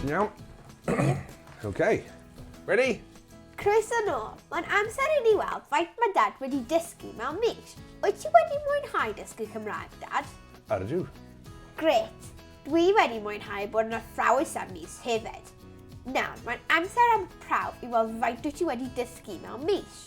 Iawn. OK. Ready? Croeso nôl. Mae'n amser i ni weld faint mae dad wedi dysgu mewn mis. Wyt ti wedi mwynhau dysgu Cymraeg, dad? Ardw. Gret. Dwi wedi mwynhau bod yn athrawes am mis hefyd. Nawr, mae'n amser am prawf i weld faint wyt ti wedi dysgu mewn mis.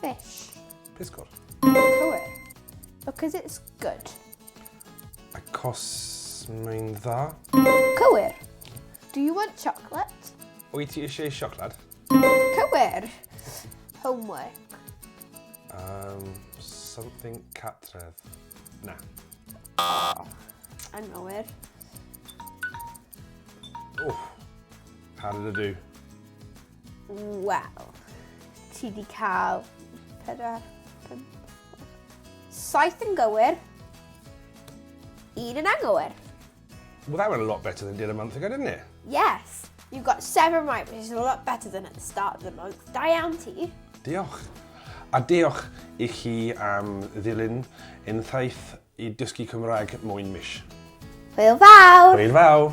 Fish. Pysgod. Cywir. Because it's good. Acos mae'n dda. Cywir. Do you want chocolate? Wyt ti eisiau sioclad? Cywir. Homework. Um, something catref. Na. Oh, anghywir. Oh, how did I do? Wel, ti di cael pedwar, pum, saith yn gywir, un yn anghywir. Well, that went a lot better than it did a month ago, didn't it? Yes. You got seven right, which is a lot better than at the start of the month. Da iawn ti. Diolch. A diolch i chi am ddilyn untaith I dysgu Cymraeg moyn mish. Hwyl fawr! Hwyl fawr!